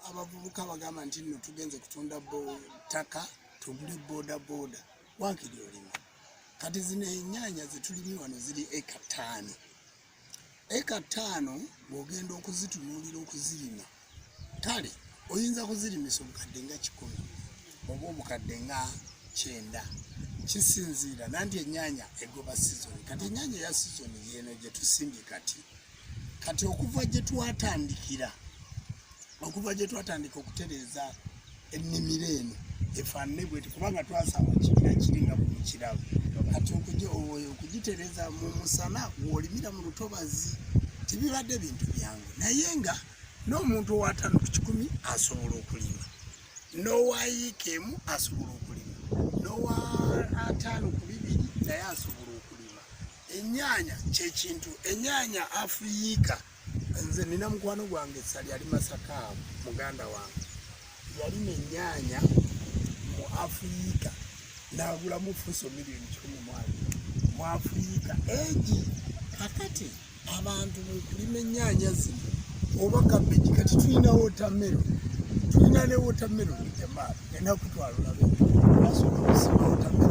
abavubuka bagamba nti nno tugenze kutunda ttaka tugule bodaboda wakiri olima kati zino enyanya zetulimi wano ziri eka taano eka taano bwogenda okuzitunuulira okuzirima kale oyinza kuzirimisa obukadde nga kikumi oba obukadde nga kyenda kisinziira nanti enyanya egoba sizoni kati enyanya eya sizoni yeno gyetusimbye kati kati okuva gyetwatandikira okuva gyetwatandika okutereeza ennimiro eno efaanane bweti kubanga twasaba kibira kiri nga bumukirabo kati okugitereza mu musana wolimira mu lutobazi tebibadde bintu byangu naye nga n'omuntu owatano ku kikumi asobola okulima n'owayiika emu asobola okulima n'owa ataano ku bibiri naye asobola okulima enyaanya kyekintu enyaanya afuyiika Nze nina mukwano gwange sali ali Masaka muganda wange yali nenyaanya mu Afirika n'agulamu fuso miliyoni kikumi mwali mu Afirika egi kakati abantu mukulima enyaanya zino oba kabeji kati tulina wotamero tulina ne wotamero jamaa enaku twalulabe asobola okusima wotamero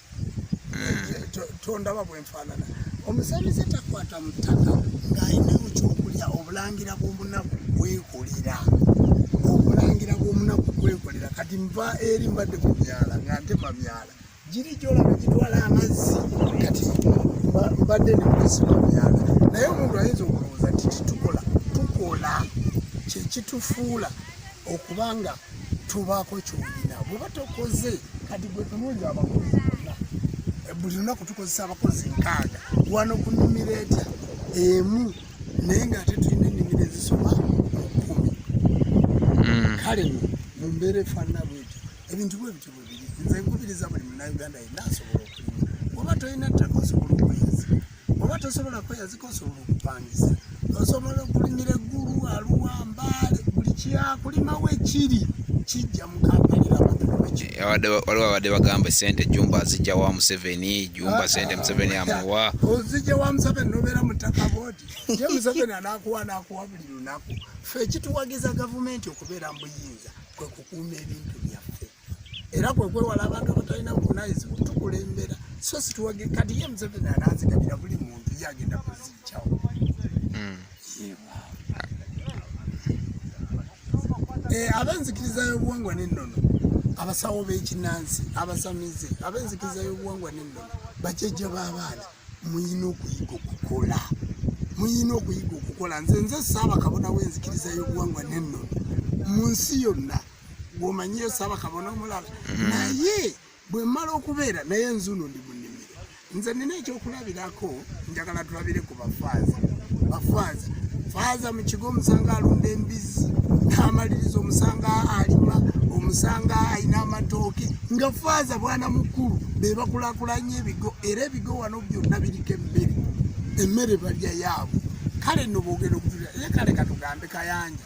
tondaba bwenfaanana omusamize takwata mu ttaka ng'alina mu kyokulya obulangira bw'omunaku kwekolera obulangira bw'omunaku kwekolera kati nva eri mbadde ku myala nga ntema myala giri gyolaba gitwala amazzi kati mbadde nekusima myala naye omuntu ayinza okulowooza nti titukola tukola kyekitufuula okubanga tubaako kyolina bweba tokoze kati gwetunulira abakozi bonna buli lunaku tukozesa abakozi nkaaga wano ku nimiro etya emu naye nga ate tulina enimiro ezisoma kumi hmm. kale no mu mbeera efaanana bwetyo ebintu bwe bityo bwebiri nze nkubiriza buli munauganda yenna asobola okulima bweba tolina ttaka osobola okuyinza oba tosobola kweyazika osobola okupangisa osobola okulimira eggulu aluwa mbaale buli kyakulimawo ekiri kijja mukapalirawaliwo abadde bagamba esente jumba azijja wa museveni jumba ah, sente museveni ah, amuwa ah, ozijja wa museveni nobeera mutaka bodi ye museveni anakuwa nakuwa buli lunaku fe ekituwagiza gavumenti okubeera mubuyinza kwekukuuma ebintu byaffe era kwe kwewala abantu abatalina buvunaanyizibwa tukulembera so situwage kati ye museveni ananzigabira buli muntu ye agenda kuziikyawo hmm. eh, ab'enzikiriza y'obuwangwa n'ennono abasawo b'ekinansi abasamize ab'enzikiriza y'obuwangwa n'ennono bajajja b'abaana muyina okuyiga okukola muyina okuyiga okukola nze nze saabakabona w'enzikiriza y'obuwangwa n'ennono mu nsi yonna gwomanyiyo saba kabona omulala mm-hmm. naye bwemala okubeera naye nzuno ndi munimiro nze nina ekyokulabirako njagala tulabire ku bafaaza bafaaza faaza mu kigo omusanga alunda embizzi n'amaliriza omusanga alima omusanga alina amatooke nga faaza bwana mukulu be bakulakulanya ebigo era ebigo wano byonna biriko emmere emmere balya yaabwe kale nobogera okutulira ye kale katugambe kayanja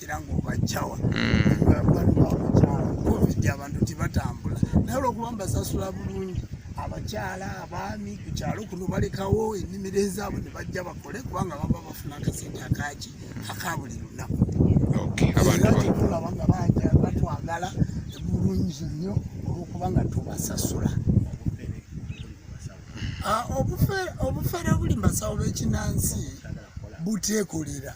era ng'obajjawa covid abantu tibatambula naye olwokuba mbasasula bulungi abakyala abaami ku kyalo kuno balekawo ennimiro ezaabwe ne bajja bakole kubanga baba bafuna akasente akaki aka buli lunaku olaba nga banja batwagala bulungi nnyo olwokuba nga tubasasula ah, obufere obuli mbasawo bekinansi butekolera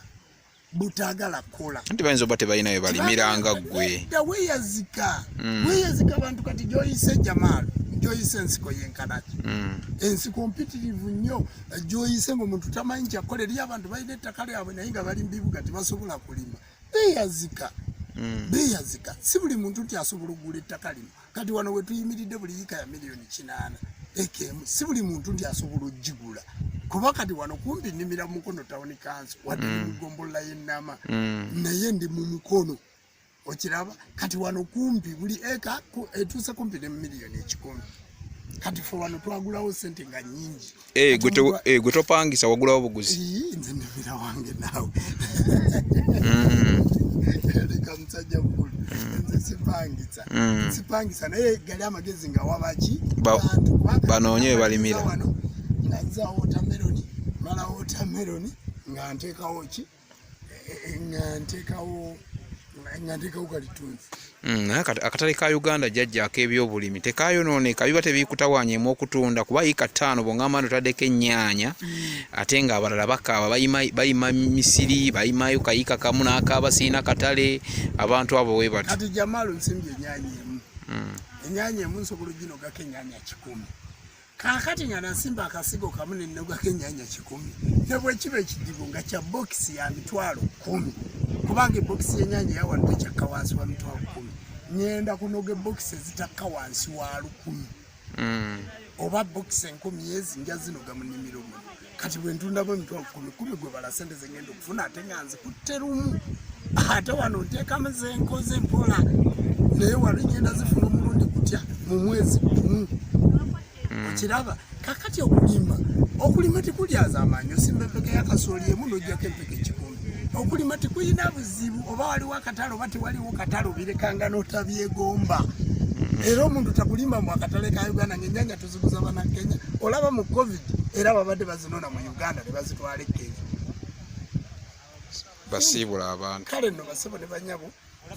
butagala kukola nti bayinza oba tebalina we balimiranga ggwe weyazika mm. weyazika abantu kati gyoyise jamaalo gyoyise ensiko yenkanaki mm. ensiko mpitirivu nnyo gyoyise ngaomuntu tamanyi kyakola eriyo abantu balina ettaka lyabwe naye nga bali mubibuga tebasobola kulima beyazika mm. beyazika si buli muntu nti asobola okugula ettaka lino kati wano wetuyimiridde buli yika ya miliyoni kinaana ekemu si buli muntu nti asobola okugigula kuba kati wano kumpi nimira mukono tawuni kansi wadde mm. mugombolola yenama mm. naye ndi mu mukono okiraba kati wano kumpi buli eka etuuse kumpi ne mumiliyoni ekikumi kati fe wano twagulawo sente nga nyingi Eh, eh, gwe topangisa wagulawo buguzi nze ndivira wange naawe mm. leka musajja mukulu mm. nze sipangisa mm. sipangisa naye gali amagezi nga wabaki banoonye webalimira wano nga nza wotameroni mala wotameroni nga nteekawo ki nga ntekawo nga ntekawo kalitunzi mm, naye akatale ka uganda jajja akebyobulimi tekayonooneka biba tebikutawanyaemu okutunda kuba yika ttaano bwongamba nti otaddeko ennyaanya mm. ate nga abalala bakaaba bayima misiri bayimayo kayika kamu nakaaba sirina katale abantu abo webatikati jamaalo nsimbye ennyaanya emu mm. ennyaanya emu nsobola oginogako ennyaanya kikumi Kaakati nga nasimba akasigo kamu ne nnogako ennyanya kikumi ne bwe kiba ekidibo nga kya bokisi ya mitwalo kkumi kubanga ebokisi y'ennyanya yawano tekyakka wansi wa mitwalo kkumi ngenda kunoga ebokisi ezitakka wansi wa lukumi hmm. oba bokisi enkumi ezi nja zinoga mu nnimiro muno kati bwentundamu emitwalo kumi kumi gwebala sente zengenda okufuna ate nga nzikutte lumu ate wano nteekamu zenkoze mpola naye wano egenda zifuna omulundi kutya mu mwezi gumu hmm. okiraba kakati okulima okulima tekulyaza amaanyi osimba empeke yakasooli emu nojjako empeke kikumi okulima tekulina buzibu oba waliwo akatale oba tewaliwo katale obirekanga notabyegomba hmm. era omuntu takulima mu akatale ka uganda ngaenyanya zikuza bana Kenya olaba mu covid era babadde bazinona mu Uganda ne bazitwala e Kenya basiibula abantu kale no basebo ne banyabo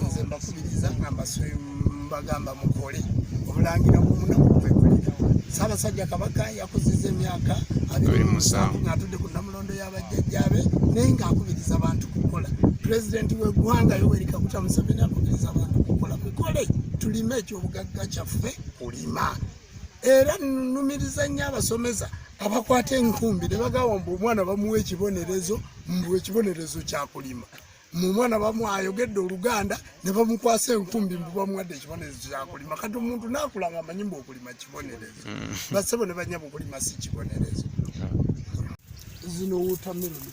nze mbakubiriza nga mbagamba mukole obulangira bwomunaku kwekulira Ssaabasajja Kabaka yakuziza emyaka abiri musanvu ng'atudde ku nnamulondo y'abajjajjaabe naye ng'akubiriza abantu kukola pulezidenti w'eggwanga Yoweri Kaguta Museveni akubiriza abantu kukola mukole tulime ekyobugagga kyaffe kulima era nnumiriza nnyo abasomesa abakwata enkumbi ne bagamba mbu omwana bamuwa ekibonerezo mbu ekibonerezo kyakulima mu mwana bamu ayogedde oluganda ne bamukwasa enkumbi mbu bamuwadde ekibonerezo kyakulima kati omuntu naakula nga amanyi mbu okulima kibonerezo mm. basebo ne banyaba okulima si kibonerezo zino wotameroni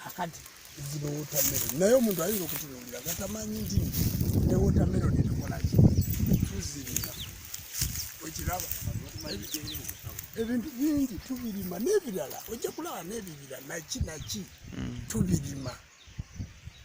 kakati zino wotameroni naye omuntu ayinza okutunuulira nga tamanyi nti ne wotameroni tukolaki tuzirima okiraba ebintu bingi tubirima n'ebirala ojja kulaba n'ebibira naki naki hmm. tubirima